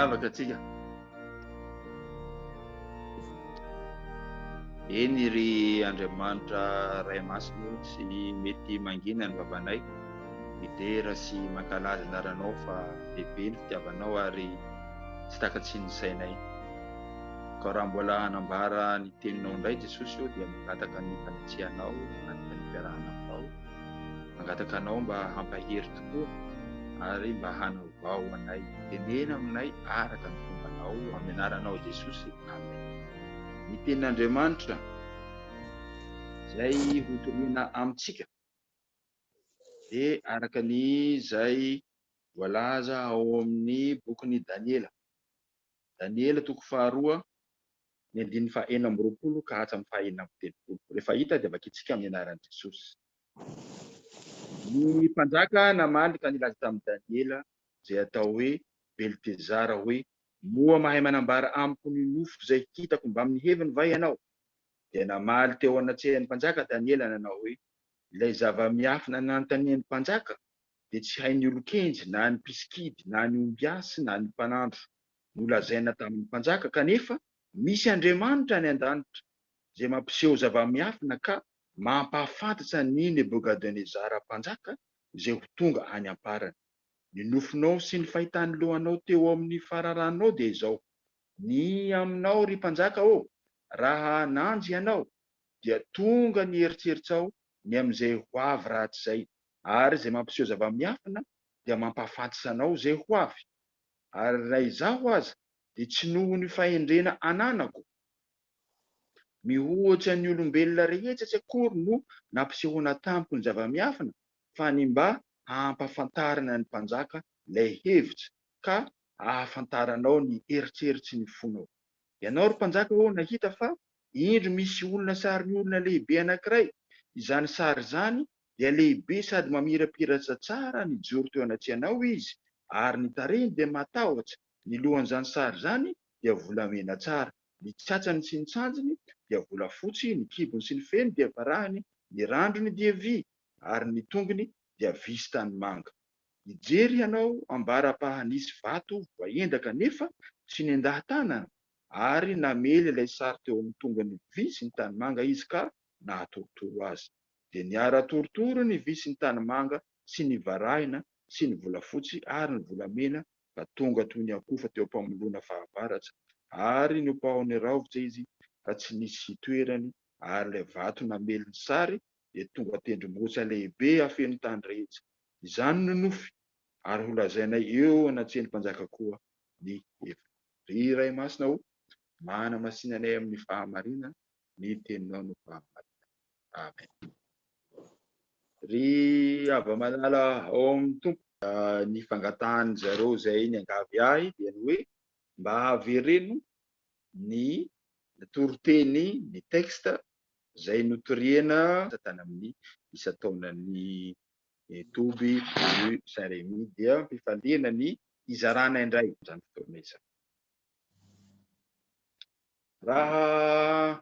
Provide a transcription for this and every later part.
Vavaka atsika. Eny ry Andriamanitra Ray Masina o, tsy mety mangina ny vavanay, midera sy mankalaza anaranao fa lehibe ny fitiavanao ary tsy takatsian'ny sainay. Ka raha mbola hanambara ny teninao indray Jesosy ô dia mangataka ny fanetsehanao, mangataka ny fiarahana aminao, mangataka anao mba hampahery tokoa ary mba hanavao anay, tenena aminay araka ny fombanao, amin'ny anaranao Jesosy, amen. Ny tenin'Andriamanitra izay hotorina amintsika dia araka ny izay voalaza ao amin'ny bokin'i Daniela. Daniela toko faharoa, ny andininy fahaenina amby roapolo ka hatramin'ny fahaenina amby telopolo. Rehefa hita dia vakintsika amin'ny anaran'i Jesosy. Ny mpanjaka namaly ka nilaza tamin'i Daniela, izay atao hoe Beltezara, hoe, Moa mahay manambara amiko ny nofiko izay hitako mbamin'ny heviny va ianao? Dia namaly teo anatrehan'ny mpanjaka Daniela nanao hoe, Ilay zava-miafina nanontanian'ny mpanjaka, dia tsy hain'ny olon-kenjy na ny mpisikidy na ny ombiasy na ny mpanandro nolazaina tamin'ny mpanjaka, kanefa misy Andriamanitra any an-danitra izay mampiseho zava-miafina ka mampahafantatra an'i Nebogadonezara mpanjaka izay ho tonga any am-parany. Ny nofinao sy ny fahitan'ny lohanao teo amin'ny fararanonao dia izao. Ny aminao, ry mpanjaka ô, raha nanjy ianao, dia tonga ny eritreritsao ny amin'izay ho avy rahatrizay, ary izay mampiseho zava-miafina dia mampahafantsa anao izay ho avy, ary raha izaho aza dia tsy noho ny fahendrena ananako mihoatra ny olombelona rehetra tsy akory no nampisehoana tamiko ny zava-miafina, fa ny mba hampahafantarana ny mpanjaka ilay hevitra, ka hahafantaranao ny eritreritry ny fonao. Ianao, ry mpanjaka ô, nahita fa, indro, misy olona sarin'olona lehibe anankiray, izany sary izany dia lehibe sady mamirapiratra tsara nijoro teo anatrehanao izy, ary ny tarehiny dia matahotra, ny lohan'izany sary izany dia volamena tsara, ny tsatsany sy ny tsanjiny dia volafotsy, ny kibony sy ny feny dia varahiny, ny randrony dia vy, ary ny tongony dia visy tanimanga. Nijery ianao ambara-pahanisy vato voaendaka nefa tsy nendaha-tanana, ary namely ilay sary teo amin'ny tongony vy sy ny tanimanga izy ka nahatorotoro azy. dia niara torotoro ny vy sy ny tanimanga sy ny varahina sy ny volafotsy ary ny volamena ka tonga toy ny akofa teo am-pamoloana fahavaratra ary nopahony raovicha izy ka tsy nisy hitoerany ary ilay vato namely ny sary dia tonga tendrombohitra lehibe afeno tany rehetra izany no nofy ary ho lazainay eo anatrehan'ny mpanjaka koa ny heviny. Ry Ray Masina ô, manamasinanay amin'ny fahamarinana, ny teninao no fahamarinana. Amen. Ry Ava Malala ao amin'ny Tompo. Ny fangatahan'ny zareo izay niangavy ahy dia ny hoe mba avereno ny toriteny, ny texte izay notoriana tany amin'ny isan-taonan'ny toby rue Saint Remy dia am-pifaliana ny hizarana indray izany fotoana izany. Raha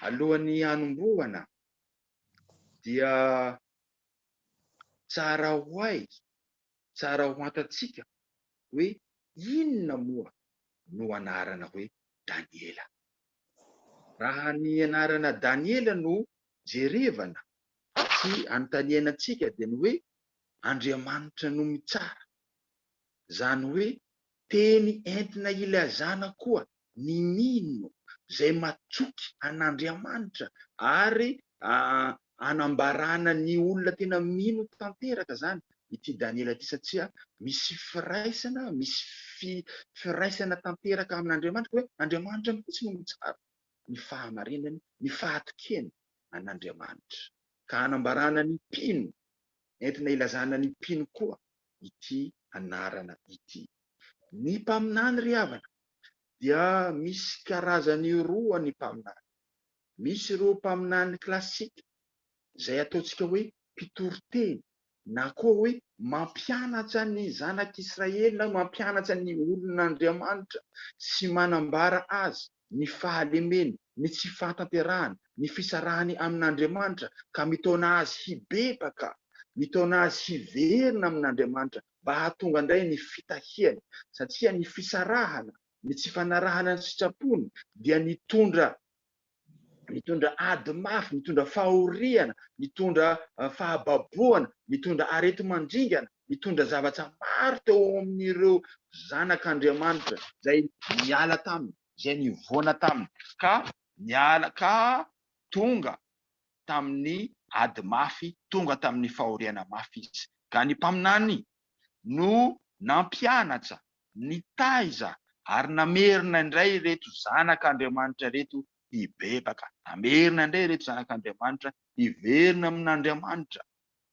alohan'ny hanombohana dia tsara ho hay, tsara ho antantsika hoe inona moa no anarana hoe Daniela. Raha ny anarana Daniela no jerevana sy anontaniana antsika dia ny hoe Andriamanitra no mitsara. Izany hoe teny entina ilazana koa ny mino izay matsoky an'Andriamanitra ary anambarana ny olona tena mino tanteraka izany ity Daniela ity satria misy firaisana, misy firaisana tanteraka amin'Andriamanitra hoe Andriamanitra mihitsy no mitsara ny fahamarinany, ny fahatokeny an'Andriamanitra ka anambarana ny mpino, entina ilazana ny mpino koa ity anarana ity. Ny mpaminany ry havana dia misy karazany roa ny mpaminany. Misy ireo mpaminany klasika izay ataontsika hoe mpitory teny na koa hoe mampianatra ny zanak'Israely na mampianatra ny olon'Andriamanitra sy manambara azy. ny fahalemeny, ny tsy fahatanterahany, ny fisarahany amin'Andriamanitra ka mitaona azy hibebaka, mitaona azy hiverina amin'Andriamanitra mba hahatonga indray ny fitahiany, satria ny fisarahana, ny tsy fanarahana ny sitrapony dia nitondra nitondra ady mafy, nitondra fahoriana, nitondra fahababoana, nitondra areti-mandringana. nitondra zavatra maro teo amin'ireo zanak'Andriamanitra izay niala taminy, izay nivoana taminy, ka niala ka tonga tamin'ny ady mafy, tonga tamin'ny fahoriana mafy izy. Ka ny Mpaminany no nampianatra, nitaiza ary namerina indray ireto zanak'Andriamanitra ireto hibebaka, namerina indray ireto zanak'Andriamanitra hiverina amin'Andriamanitra,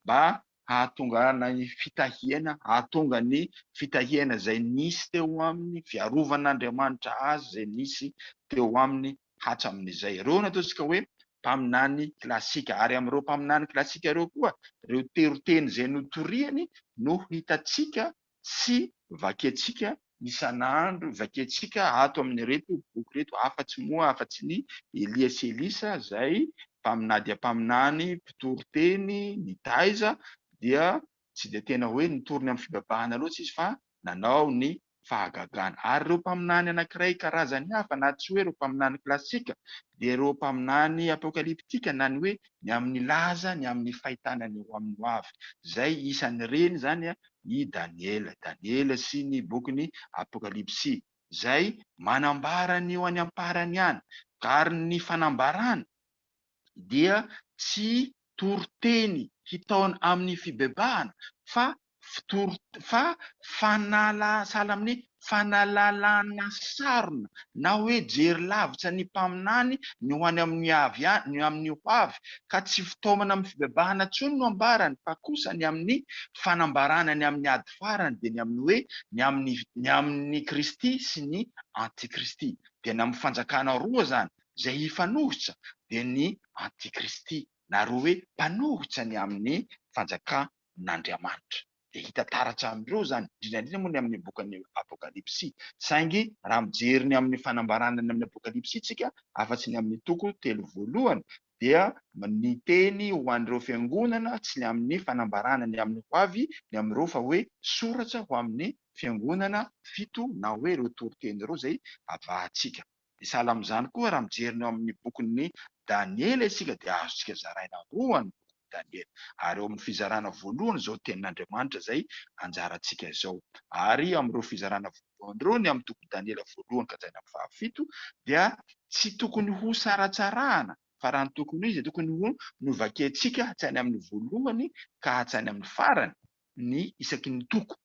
mba hahatonga an ny fitahiana, hahatonga ny fitahiana izay nisy teo aminy, fiarovan' Andriamanitra azy izay nisy teo aminy hatsamin' izay. Ireo no ataontsika hoe mpaminany klasika. Ary amin'ireo mpaminany klasika ireo koa, ireo teroteny izay notoriany no hitantsika tsy vakiantsika isan'andro, vakiantsika ato amin'ireto boky ireto, afa-tsy moa, afa-tsy ny Elia sy Elisa izay mpaminany dia mpaminany, mpitory teny, nitaiza, dia tsy dia tena hoe nitory ny amin'ny fibebahana loatra izy fa nanao ny fahagagana. Ary ireo mpaminany anankiray karazany hafa, na tsy hoe ireo mpaminany klasika, dia ireo mpaminany apokaliptika, na ny hoe ny amin'ny laza, ny amin'ny fahitana ny ho amin'ny hoavy, izay isan'ireny izany i Daniela, Daniela sy ny bokin'ny Apokalypsy, izay manambara ny ho any am-parany any, ary ny fanambarana dia tsy toriteny hitaona amin'ny fibebahana fa fitory fa fanala sahala amin'ny Fanalalana sarona na hoe jery lavitra ny mpaminany ny ho any amin'ny avy any ny amin'ny ho avy ka tsy fitaomana amin'ny fibebahana intsony no ambarany fa kosa ny amin'ny fanambarana ny amin'ny ady farany dia ny amin'ny hoe ny amin'ny ny amin'ny Kristy sy ny antikristy dia ny amin'ny fanjakana roa izany izay hifanohitra dia ny antikristy na roa hoe mpanohitra ny amin'ny fanjakan'Andriamanitra. dia hita taratra amin'ireo izany, indrindra indrindra moa ny amin'ny bokin'ny Apokalypsy. Saingy raha mijery ny amin'ny fanambarana ny amin'ny Apokalypsy isika, afa-tsy ny amin'ny toko telo voalohany, dia ny teny ho an'ireo fiangonana tsy ny amin'ny fanambarana ny amin'ny ho avy ny amin'ireo fa hoe soratra ho amin'ny fiangonana fito na hoe ireo toriteny ireo izay avahantsika. Dia sahala amin'izany koa raha mijery ny ao amin'ny bokin'i Daniela isika dia azontsika zaraina roa ny bokin'i Daniela. Ary ao amin'ny fizarana voalohany izao tenin'Andriamanitra izay anjarantsika izao. Ary amin'ireo fizarana voalohany ireo ny amin'ny toko Daniela voalohany ka hatramin'ny fahafito dia tsy tokony ho saratsarahana fa raha ny tokony ho izy dia tokony ho novakiantsika hatrany amin'ny voalohany ka hatrany amin'ny farany ny isaky ny toko.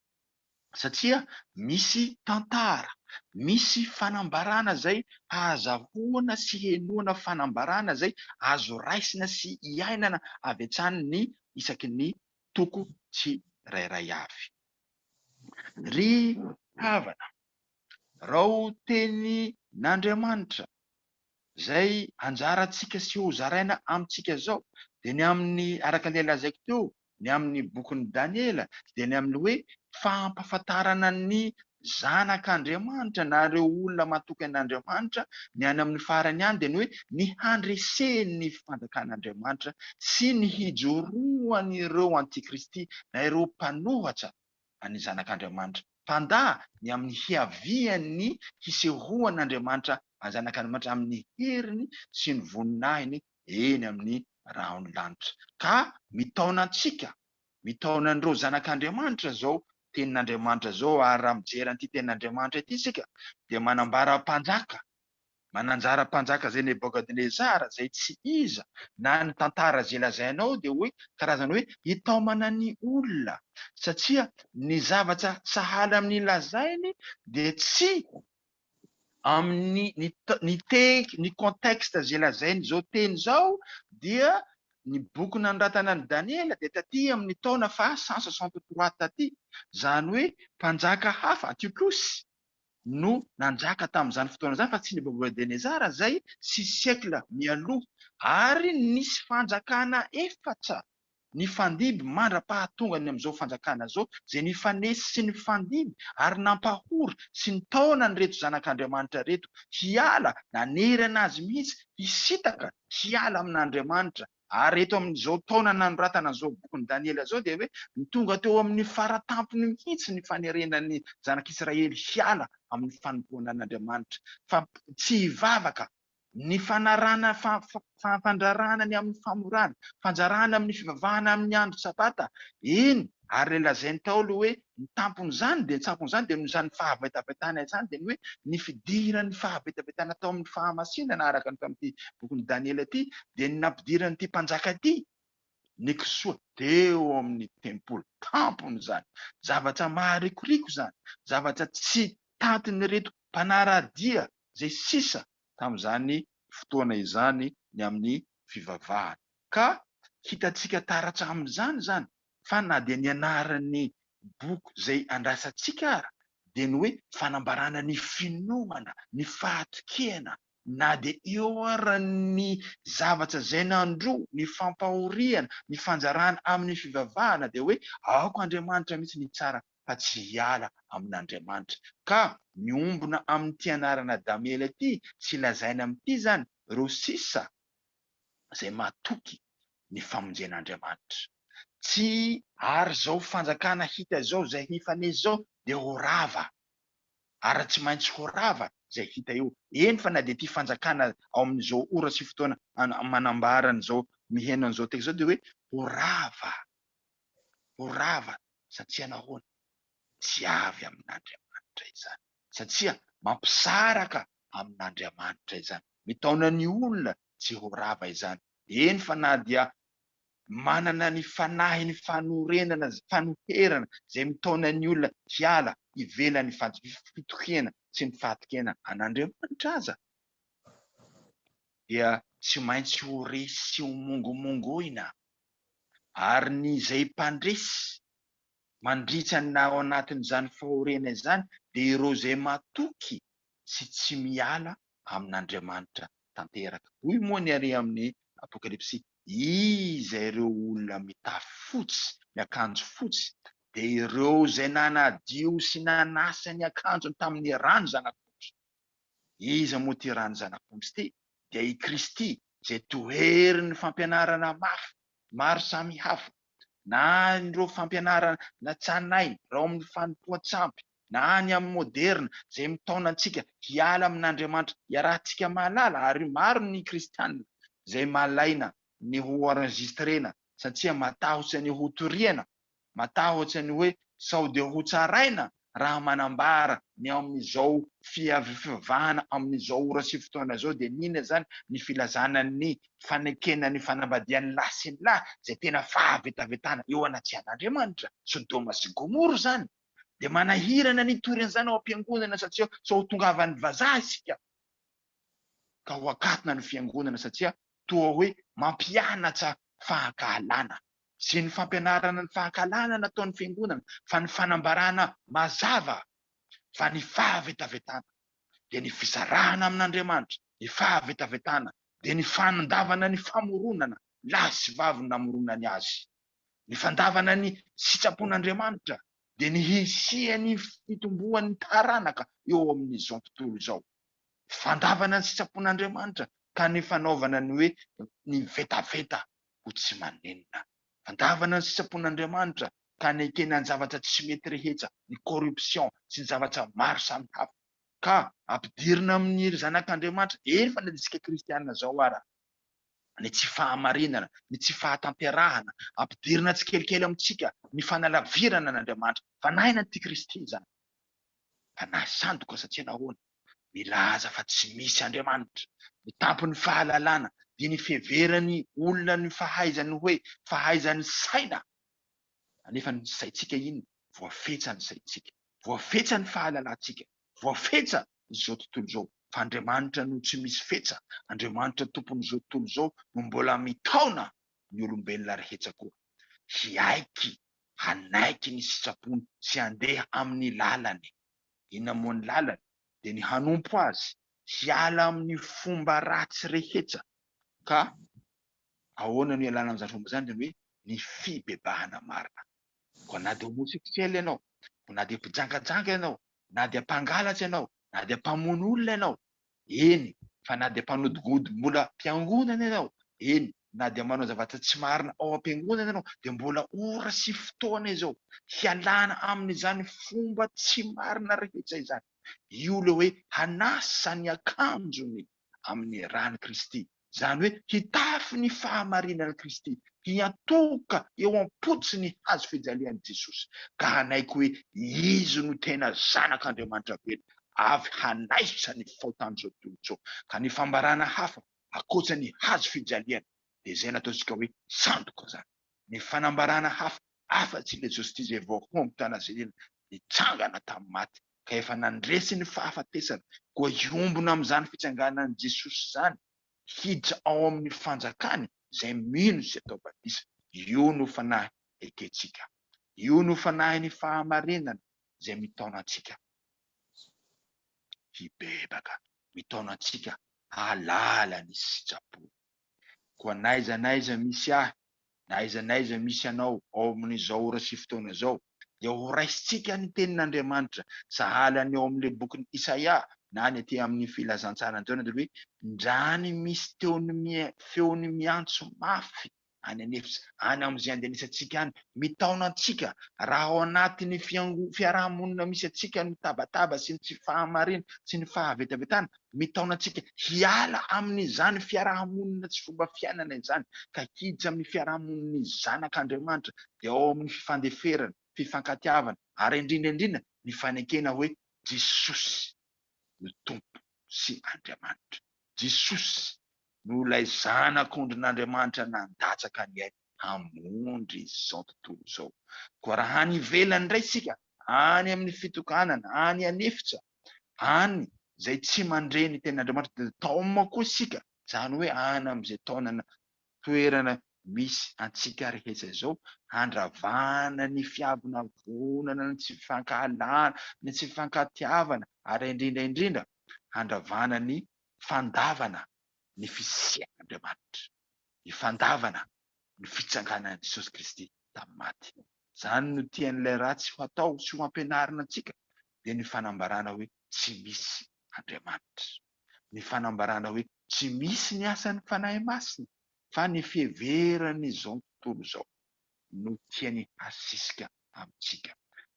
satria misy tantara, misy fanambarana izay ahazahoana sy henoana fanambarana izay azo raisina sy iainana avy hatrany ny isaky ny toko tsirairay avy. Ry havana, rao teny n'Andriamanitra izay anjarantsika sy ho zaraina amintsika izao dia ny amin'ny, araka ilay lazaiko teo, ny amin'ny bokin'i Daniela dia ny amin'ny hoe fampahafantarana ny zanak'Andriamanitra na ireo olona matoky an'Andriamanitra, ny any amin'ny farany ihany dia ny hoe ny handresen'ny fanjakan'Andriamanitra sy ny hijoroan'ireo antikristy na ireo mpanohatra an'ny zanak'Andriamanitra, mpandà ny amin'ny hiavian'ny hisehoan'Andriamanitra anjanak'Andriamanitra amin'ny heriny sy ny voninahiny eny amin'ny rahon'ny lanitra, ka mitaona antsika, mitaona an'ireo zanak'Andriamanitra izao Tenin'Andriamanitra izao, ary raha mijery an'ity Tenin'Andriamanitra ity isika, dia manambara mpanjaka, mananjara mpanjaka izay Nebokadnezara, izay tsy iza, na ny tantara izay lazaina ao dia hoe karazana hoe hitaomana ny olona, satria ny zavatra sahala amin'ny lazainy dia tsy amin'ny ny ny tehika, ny contexte izay lazain'izao teny izao dia ny boky nanoratana an'i Daniela dia taty amin'ny taona faha cent soixante trois taty, izany hoe mpanjaka hafa, Antiochosy, no nanjaka tamin'izany fotoana izany fa tsy Nebokadnezara izay six siècles mialoha, ary nisy fanjakana efatra nifandimby mandra-pahatongany amin'izao fanjakana izao, izay nifanesy sy nifandimby ary nampahory sy nitaona an'ireto zanak'Andriamanitra ireto hiala, nanerana azy mihitsy hisintaka hiala amin'Andriamanitra. Ary eto amin'izao taona nanoratana an'izao bokin'i Daniela izao dia hoe tonga teo amin'ny fara-tampony mihitsy ny fanerena ny zanak'Israely hiala amin'ny fanompoana an'Andriamanitra, fa tsy hivavaka ny fanarahana fampandraharahana ny amin'ny famorana, fanjarahana amin'ny fivavahana amin'ny andro sabata, eny, ary ilay lazain'i Paoly hoe ny tampon'izany dia ny sampon'izany dia noho izany fahavetavetana izany dia ny hoe ny fidiran'ny fahavetavetana tao amin'ny fahamasinana araka ny tao amin'ity bokin'i Daniela ity dia ny nampidiran'ity mpanjaka ity ny kisoa teo amin'ny tempoly tampony izany zavatra maharikoriko izany zavatra tsy tantin'ireto mpanara-dia izay sisa tamin'izany fotoana izany ny amin'ny fivavahana. Ka hitantsika taratra amin'izany izany fa na dia ny anaran'ny boky izay andrasantsika ara dia ny hoe fanambarana ny finoana, ny fahatokena, na dia eo ara ny zavatra izay nandro ny fampahoriana, ny fanjarana amin'ny fivavahana dia hoe aoka Andriamanitra mihitsy ny hitsara fa tsy hiala amin'Andriamanitra. Ka miombona amin'ity anarana Damiela ity sy lazaina amin'ity izany ireo sisa izay matoky ny famonjen'Andriamanitra. Tsy. Ary izao fanjakana hita izao izay hifanesy izao dia ho rava. Ary tsy maintsy ho rava izay hita eo. Eny fa na dia ity fanjakana ao amin'izao ora sy fotoana manambara an'izao miheno an'izao teka izao dia hoe ho rava. ho rava satsia nahoana? Tsy avy amin'Andriamanitra izany satsia mampisaraka amin'Andriamanitra izany. Mitaona ny olona tsy ho rava izany, eny fa na dia manana ny fanahiny fanorenana, fanoherana izay mitaona ny olona hiala ivelan'ny fitokiana sy ny fahatokiana an'Andriamanitra aza dia tsy maintsy ho resy sy ho mongomongoina ary ny izay mpandresy mandritra ny ao anatin'izany fahoriana izany dia ireo izay matoky sy tsy miala amin'Andriamanitra tanteraka. Hoy moa ny Ari amin'ny Apokalypsy, Iza ireo olona mitafy fotsy, miakanjo fotsy? Dia ireo izay nanadio sy nanasa ny akanjony tamin'ny rano Zanak'ondry. Iza moa ity rà ny Zanak'omby ity? Dia i Kristy izay toherin'ny fampianarana mafy maro samy hafa, na ireo fampianarana natsahainainy irao amin'ny fanompoan-tsampy, na ny amin'ny moderina izay mitaona antsika hiala amin'Andriamanitra iarahantsika mahalala, ary maro ny Kristiana izay malaina ny ho enregistrena satria matahotra ny hotoriana Matahotra ny hoe sao dia ho tsaraina raha manambara ny ao amin'izao fivavahana amin'izao ora sy fotoana izao dia n'inona izany ny filazana ny fanekena ny fanambadian'ny lahy sy ny lahy izay tena fahavetavetana eo anatrehan'Andriamanitra. Sodoma sy Gomora izany dia manahirana ny hitory an'izany ao am-piangonana satria sao ho tongavan'ny vazaha isika ka ho akatona ny fiangonana satria toa hoe mampianatsa fahakahalana. Tsy ny fampianarana ny fahakalana no ataon'ny Fiangonana fa ny fanambarana mazava fa ny fahavetavetana dia ny fisarahana amin'Andriamanitra, ny fahavetavetana dia ny fanondavana ny famoronana lahy sy vavy namoronany azy, ny fandavana ny sitrapon'Andriamanitra dia ny hisian'ny fitomboan'ny taranaka eo amin'izao tontolo izao. Fandavana ny sitrapon'Andriamanitra ka ny fanaovana ny hoe ny vetaveta ho tsy manenina. Fandavana ny sitrapon'Andriamanitra ka hanekena ny zavatra tsy mety rehetra, ny corruption sy ny zavatra maro samy hafa. Ka ampidirina amin'ny ry zanak'Andriamanitra efa nandiska kristiana zao ara ny tsy fahamarinana, ny tsy fahatanterahana, ampidirina tsikelikely amintsika ny fanalavirana an'Andriamanitra. Fanahy na antikristy izany. Fanahy sandoka satria nahoana? milaza fa tsy misy Andriamanitra, ny tampon'ny fahalalana dia ny fiheveran'ny olona ny fahaizany hoe fahaizany saina, anefa ny saintsika iny voafetsa ny saintsika, voafetsa ny fahalalantsika, voafetsa izao tontolo izao, fa Andriamanitra no tsy misy fetsa, Andriamanitra tompon'izao tontolo izao no mbola mitaona ny olombelona ary hetsa koa hiaiky hanaiky ny sitrapony sy handeha amin'ny lalany. eny amoan'ny lalana dia ny hanompo azy hiala amin'ny fomba ratsy rehetra ka ahoana no hialana amin'izany fomba izany? Izany hoe ny fibebahana marina koa na dia homosexuel ianao koa na dia mpijangajanga ianao na dia mpangalatra ianao na dia mpamono olona ianao Eny, fa na dia mpanodingodin-bola am-piangonana ianao, eny, na dia manao zavatra tsy marina ao am-piangonana ianao, dia mbola ora sy fotoana izao hialana amin'izany fomba tsy marina rehetra izany. Io ilay hoe hanasa ny akanjony amin'ny ran'i Kristy. izany hoe hitafy ny fahamarinan'i Kristy, hiantoka eo am-potsy ny hazo fijalian'i Jesosy, ka hanaiky hoe Izy no tena Zanak'Andriamanitra velona, avy hanaisotra ny faotan'izao tontolo izao. Ka ny fambarana hafa ankoatra ny hazo fijaliana dia izay nataontsika hoe sandoka izany. Ny fanambarana hafa afa-tsy ilay Justice Evoque Home Tana Selina nitsangana tamin'ny maty ka efa nandresy ny fahafatesana koa hiombona amin'izany fitsanganan'i Jesosy izany hiditra ao amin'ny fanjakany izay mino sy atao batisa. Io no fanahy ekentsika. Io no fanahin'ny fahamarinana izay mitaona antsika hibebaka, mitaona antsika hahalala ny sitrapony. Koa n'aiza n'aiza misy ahy, na aiza n'aiza misy anao ao amin'izao ora sy fotoana izao, dia horaisintsika ny tenin'Andriamanitra sahala ny ao amin'ilay bokin'i Isaia na ny aty amin'ny Filazantsaran'i Jaona dia hoe, Ndrany misy feony miantso mafy any an'efitra any amin'izay andenisantsika any, mitaona antsika raha ao anatin'ny fiango, fiaraha-monina misy antsika ny tabataba sy ny tsy fahamariana sy ny fahavetavetana, mitaona antsika hiala amin'izany fiaraha-monina tsy fomba fiainana izany ka hiditra amin'ny fiaraha-monin'ny zanak' Andriamanitra dia ao amin'ny fifandeferana, fifankatiavana ary indrindra indrindra ny fanekena hoe Jesosy. ny Tompo sy Andriamanitra. Jesosy no ilay Zanak'ondrin'Andriamanitra nandatsaka ny ainy hamonjy izao tontolo izao. Koa raha any ivelany indray isika, any amin'ny fitokanana, any an'efitra, any izay tsy mandre ny tenin'Andriamanitra dia taoma koa isika, izany hoe any amin'izay taonana toerana misy antsika rehetra izao, handravana ny fiavonavonana, ny tsy fifankahalana, ny tsy fifankatiavana ary indrindra indrindra handravana ny fandavana ny fisian'Andriamanitra, ny fandavana ny fitsanganan'i Jesosy Kristy tamin'ny maty. Izany no tian'ilay ratsy ho atao sy ho ampianarina antsika, dia ny fanambarana hoe tsy misy Andriamanitra. ny fanambarana hoe tsy misy ny asan'ny Fanahy Masina fa ny fiheveran'izao tontolo izao no tiany hasisika amintsika.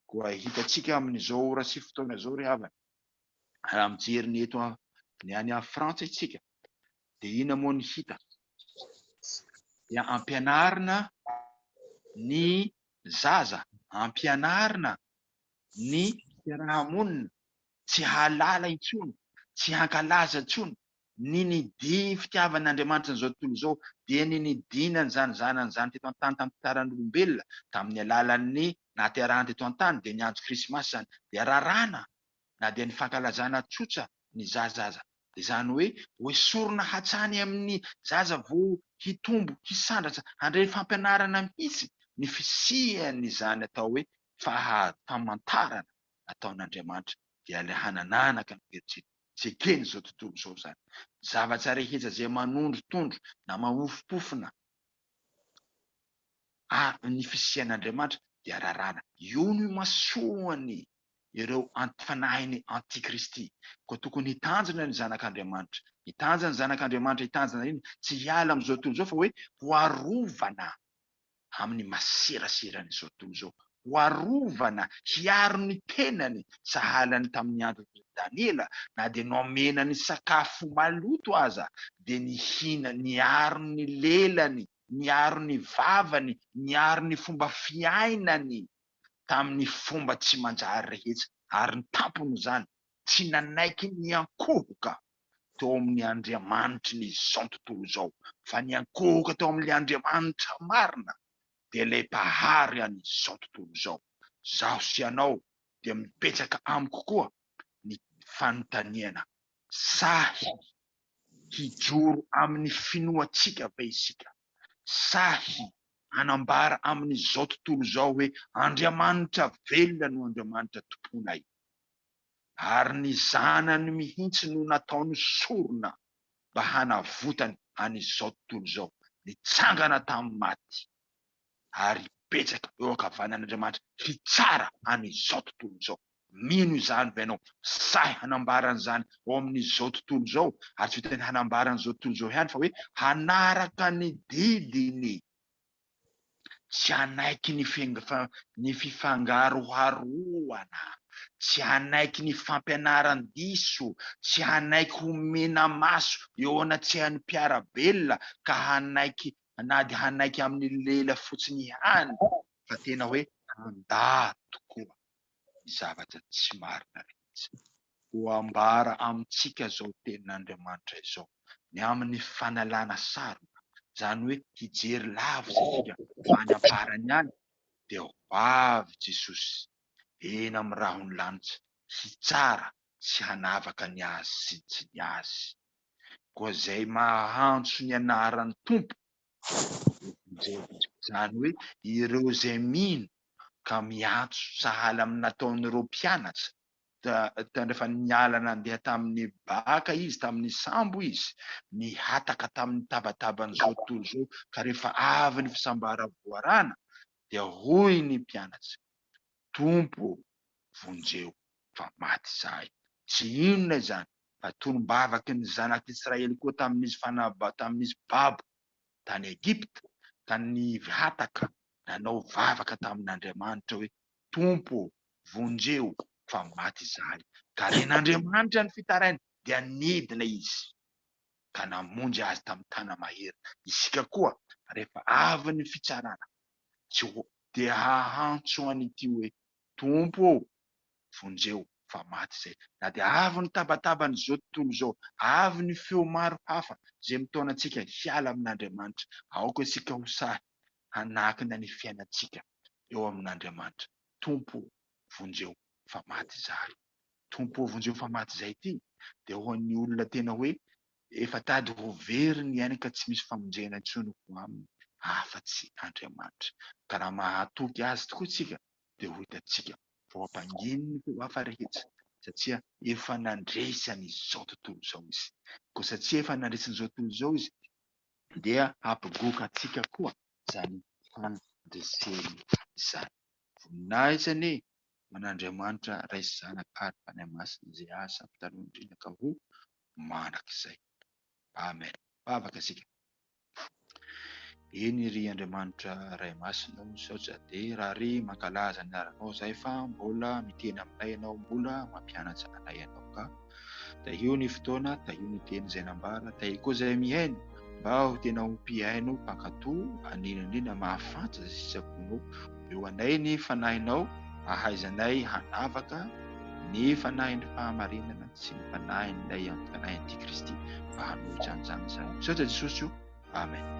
Koa hitantsika amin'izao ora sy fotoana izao ry havana, raha mijery ny eto ny any Frantsa isika dia inona moa ny hita? Dia ampianarina ny zaza, ampianarina ny fiaraha-monina tsy hahalala intsony, tsy hankalaza intsony ny nidian'ny fitiavan'Andriamanitra an'izao tontolo izao, dia ny nidiany an'izany Zanany izany teto an-tany tamin'ny fitsaran'olombelona, tamin'ny alalan'ny nahaterahany teto an-tany, dia ny andro Krismasy izany, dia raràna na dia ny fankalazana tsotra ny zaza aza. Izany hoe hoesorina hatrany amin'ny zaza vao hitombo hisandratra handray fampianarana mihitsy ny fisian'izany atao hoe fahafamantarana ataon'Andriamanitra dia ilay hanananaka ankehitriny sy eken'izao tontolo izao izany zavatra rehetra izay manondrotondro na mahofompofona ny fisian'Andriamanitra dia rarana. Io no imasoan'ny. ireo anti-panahin'ny antikristy. Koa tokony hitanjona ny zanak'Andriamanitra. Hitanja ny zanak'Andriamanitra. Hitanjona inona? Tsy hiala amin'izao tontolo izao, fa hoe ho arovana amin'ny maseraseran'izao tontolo izao. Ho arovana, hiaro ny tenany, sahala ny tamin'ny andron'i Daniela, na dia nomena ny sakafo maloto aza, dia nihina, niaro ny lelany, niaro ny vavany, niaro ny fomba fiainany. tamin'ny fomba tsy manjary rehetra, ary ny tampon'izany, tsy nanaiky ny hiankohoka teo amin'ny Andriamanitry ny izao tontolo izao, fa niankohoka teo amin'ilay Andriamanitra marina, dia ilay Mpahary an'izao tontolo izao. Izaho sy ianao dia mibetsaka amiko koa ny fanontaniana, Sahy hijoro amin'ny finoantsika ve isika? sahy hanambara amin'izao tontolo izao hoe Andriamanitra velona no Andriamanitra tomponay, ary ny Zanany mihitsy no nataony sorona mba hanavotany an'izao tontolo izao, nitsangana tamin'ny maty ary hibetsaka eo ankavanan'Andriamanitra hitsara an'izao tontolo izao. Mino izany ve ianao? Sahy hanambara an'izany ao amin'izao tontolo izao? Ary tsy vitan'ny hanambara an'izao tontolo izao ihany fa hoe hanaraka ny didiny, tsy hanaiky ny fifangaroharoana, tsy hanaiky ny fampianaran-diso, tsy hanaiky ho mena-maso eo anatsehan'ny mpiara-belona ka hanaiky na dia hanaiky amin'ny lela fotsiny ihany fa tena hoe handà tokoa. ny zavatra tsy marina rehetra. Voambara amintsika izao tenin'Andriamanitra izao ny amin'ny fanalana saroka, izany hoe hijery lavitra isika fa any am-parany any dia ho avy Jesosy eny amin'ny rahon'ny lanitra hitsara sy hanavaka ny azy sy ny tsy ny azy. Koa izay maha-antso ny anaran'ny Tompo Izany hoe ireo izay mino ka miantso sahala amin'ny nataon'ireo mpianatra tao rehefa niala nandeha tamin'ny baka izy, tamin'ny sambo izy, nihataka tamin'ny tabataban'izao tontolo izao ka rehefa avy ny fisambara voarana dia hoy ny mpianatra, Tompo ô, vonjeo fa maty izahay. Tsy inona izany fa tolom-bavaky ny zanak'Israely koa tamin'izy fanaba, tamin'izy babo tany Egypta, tany Hataka, nanao vavaka tamin'Andriamanitra hoe, Tompo ô, vonjeo fa maty izahay. Ka ren'Andriamanitra ny fitarainy dia nidina Izy ka namonjy azy tamin'ny tana-mahery. Isika koa rehefa avy ny fitsarana, tsy ho dia hahantso an' ity hoe, Tompo ô, vonjeo, fa maty izay. Na dia avy ny tabataban' izao tontolo izao, avy ny feo maro hafa izay mitaona antsika hiala amin' Andriamanitra, aoka isika ho sahy hanakina ny fiainantsika eo amin' Andriamanitra, Tompo ô, vonjeo, fa maty izahay. Tompo ô, vonjeo, fa maty izay ity dia ho an' ny olona tena hoe Efa tady ho very ny ainy ka tsy misy famonjena intsony ho aminy afa-tsy Andriamanitra. Ka raha mahatoky Azy tokoa isika dia ho hitantsika fa ho ampanginy ny feo hafa rehetra satria efa nandresy an'izao tontolo izao Izy. Koa satria efa nandresy an'izao tontolo izao Izy dia hampigoka antsika koa izany fandreseny izany. Voninahitra anie ho an'Andriamanitra Ray sy Zanaka ary Fanahy Masina izay azo ampitalohan-drindra ka ho mandrakizay. Amen. Vavaka isika. Eny ry Andriamanitra Ray Masina o, misaotra dia raha ry mankalaza ny anaranao izahay fa mbola miteny aminay ianao, mbola mampianatra anay ianao ka. Tahio ny fotoana, tahio ny teny izay nambara, tahio koa izay mihaino mba ho tena ho mpihaino mpankato an'inon'inona mahafantra sy sisaponao. Omeo anay ny Fanahinao ahaizanay hanavaka ny Fanahin'ny fahamarinana sy ny Fanahin'ilay Anti-panahy Antikristy mba hanohitra an'izany izany. Misaotra Jesosy o. Amen.